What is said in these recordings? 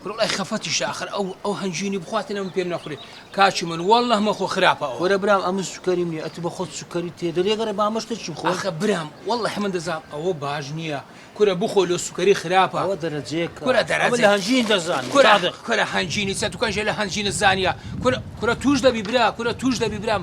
کورە وەڵای خەفەتیشە ئەخر ئەو ئەو هەنجوینی بخواتن ئەمن پێم نەخورێ کاکی من واللە مەخۆ خراپە ئەوە. کورە برام ئەمن سوکەریم نیە ئەتو بەخۆت سوکەری تێ دەری ئەگەر با مەشتە چی بخۆم. ئەخە برام واللە من دەزانم ئەوە باش نیە کورە بخۆ لۆ سوکەری خراپە. ئەوە دەرەجەیەک کورە دەرەجە ئەمن لە هەنجوین دەزانم کورە کورە هەنجوینی چە تو کەنجە لە هەنجوینت زانیە کورە کورە توش دەبی برا کورە توش دەبی برام.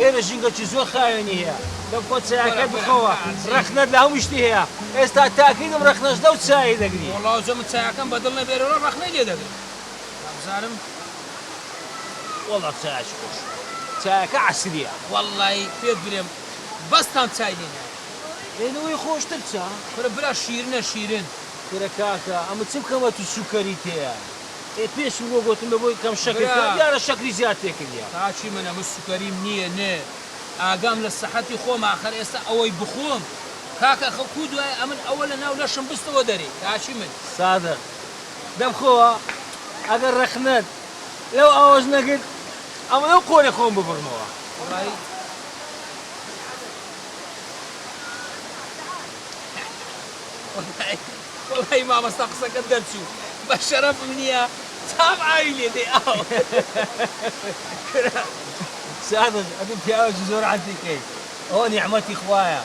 ئێرە ژینگەکی زۆر خاوێنی هەیە دەم خۆت چایەکەت بخەوە ڕەخنەت لە هەموو شتی هەیە ئێستا تاکیدم ڕەخنەش لەو چایەی دەگری. وەڵا ئەوجە من چایەکەم بە دڵ نەبێ لەوە ڕەخنەی لێ دەگرم وابزانم. وەڵا چایەکی خۆشە چایەکە عەسریە. وەڵای پێت برێم بەس تام چای لێ نایە. ئێ لەوەی خۆشتر چا. کورە برا شیرنە شیرن. کورە کاکە ئەمە چ بکەمە تو سوکەریت هەیە. ئێ پێشم بۆ گۆتم بە بۆی کەم شەکر برا. کە دیارە شەکری زیاد تێ کردیە. کاچی من ئەمە سوکەریم نیە نێ ئاگام لە سەحەتی خۆمە ئاخەر ئێستا ئەوەی بخۆم کاکە خە کو دوای ئەمن ئەوە لە ناو لەشم بستەوە دەرێ کاچی من. سادق. دەم خۆوە ئەگەر ڕەخنەت لەو ئاوەش نەگرت ئەمە لەو قۆرێ خۆم ببڕمەوە. وەڵایی. وەڵایی. وەڵایی مامۆستا قسەکەت دەرچوو بە شەرەفم نیە چاوم ئاوی لێ دێ ئاو کورە سادق ئەتو پیاوەکی زۆر عەتیقی ئەوە نیعمەتی خوایە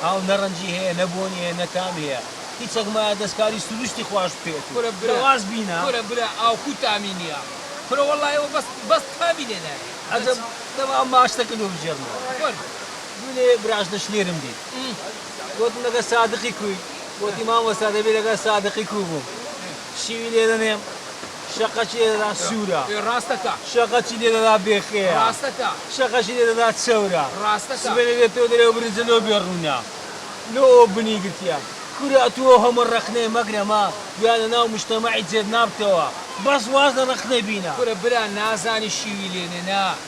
ئاو نە ڕەنجی هەیە نە بۆنی هەیە نە تامی هەیە هیچەک مایە دەسکاری سروشتی خواش بکەیت و شەواز بینە. کورە برا ئاو کو تامی نیە کورە وەڵایی ئەوە بەس بەس تامی لێ نایە. عەجەب دەمام ماچتە کردوە بگێڕمەوە. وەرە. دوێنێ براژنە شنێرم دیت گۆتم لەگەل سادقی کوی؟ گۆتی مامۆستا دەبی لەگەل سادقی کو بوم شیوی لێ دەنێم شەقەکی لێ دەدا سورە شەقەکی لێ دەدا بێخەیە شەقەکی لێ دەدا چەورە سبەینێ دێتەوە دەرێ برنجە لۆ بێ ڕونە لۆ ئەو بنی گرتیە کورە ئەتو ئەو هەمە ڕەخنەیە مەگرە مە گویا لە ناو مشتەمەعی جێت نابتەوە بەس واز لە ڕەخنە بینە. کورە برا نازانی شیوی لێ نێ نا.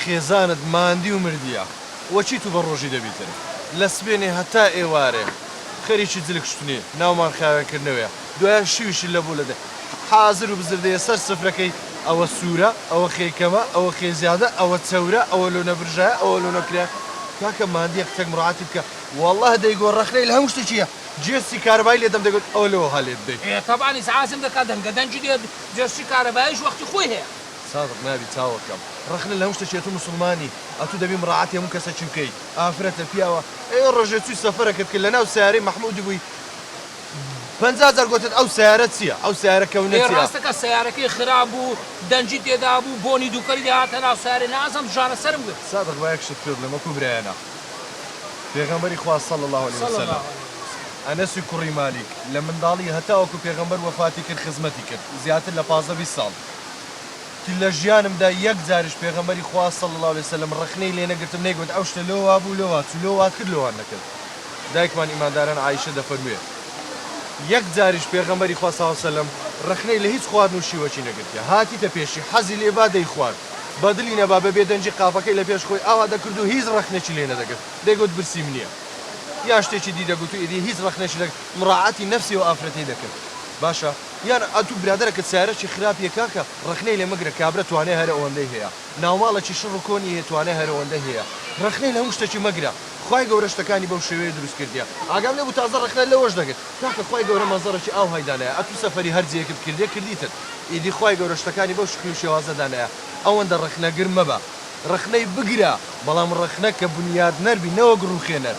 خێزانت ماندی و مردیە وە چی تو بە ڕۆژی دەبیتن لە سبێنێ هەتا ئێوارێ خەریکی جل کوشتنی ناومان خاوێن کردنەوەیە دوایە شویشی لە بو لە دە حازر و بزردەیە سەر سفرەکەی ئەوە سورە ئەوە خێی کەمە ئەوە خێی زیادە ئەوە چەورە ئەوە لۆ نەبرژایە ئەوە لۆ نەکرایە کاکە ماندیە قسەک مڕاعاتی بکە واللە دەیگۆ ڕەخنەی لە هەمو شتەکیە جێسسی کارەبای لێ دەم دەگۆت ئەوە لۆ وەها لێت دەی. ئێ تەبان ئیسعازم دەکا دەنگە دەنگی دێت جێسسی کارەبایش وەختی خۆی هەیە. سادق نابی چاوە کەم رەخنە لەهەموو شتەکی ئەتو موسڵمانی ئەتو دەبی مڕاعاتی هەموو کەسەکی بکەی ئافرەتە پیاوە ئێوە رۆژێ چوی سەفەرەکەت کرد لەناو سەیارەی مەحمودی بوی پەنجا جار گۆتت ئەو سەیارە چیە ئەو سەیارە کەونە چیە. ئێ راستەکە سەیارەکەی خراپ بوو دەنگی تێدا بوو بۆنی دووکەلی دەهاتە ناو سەیارەی نازم جارە سەرم گرت. سادق با یەک شت پێت بڵێم وەکو برایەنا پێغەمبەری خوا صلی اللە علیە وسلم ئەنەسی کوڕی مالیک لە منداڵی هەتاوەکو پێغەمبەر وەفاتی کرد خزمەتی کرد زیاتر لە پازدە بیست ساڵ. لە ژیانمدا یەک جاریش پێغەمبەری خوا صلی اللە علیە وسلم ڕەخنەی لێ نەگرتم نەیگوت ئەو شتە لۆ وابوو لۆ واچوو لۆ وات کرد لۆ وات نەکرد دایکمان ئیمانداران عائیشە دەفەرموێ یەک جاریش پێغەمبەری خوا صلی اللە علیە وسلم ڕەخنەی لە هیچ خواردن و شیوەکی نەگرتیە هاتیتە پێشی حەزی لێ با دەیخوارد بە دلی نەبا بە بێدەنگی قاپەکەی لە پێش خۆی ئاوا دەکرد و هیچ ڕەخنەکی لێ نەدەگرت دەیگوت برسیم نیە یان شتێکی دی دەگوت و ئیدی هیچ ڕەخنەکی نەگرت مراعاتی نەفسی ئەو ئافرەتەی دەکرد باشە یان ئەتوو برادەرەکەت سایەرەکی خراپیە کاکە ڕەخنەی لێ مەگرە کابرا توانای هەرە ئەوەندەی هەیە ناوماڵەکی شڕ و کۆنی هەیە توانای هەرە ئەوەندەی هەیە ڕەخنەی لە هەموو شتەکی مەگرە خوای گەورە شتەکانی بەو شێوەیە دروست کردیە ئاگام لێبوو تازە ڕەخنە لەوەش دەگرت کاکە خوای گەورە مەنزەرەکی ئاوهای دانایە ئەتوو سەفەری هەر جێیەکت کردیە کردیتت ئیدی خوای گەورە شتەکانی بەو شکل و شێوازە دانایە ئەوەندە ڕەخنەگر مەبە ڕەخنەی بگرە بەڵام ڕەخنە کە بنیادنەر بی نەوەک ڕووخێنەر.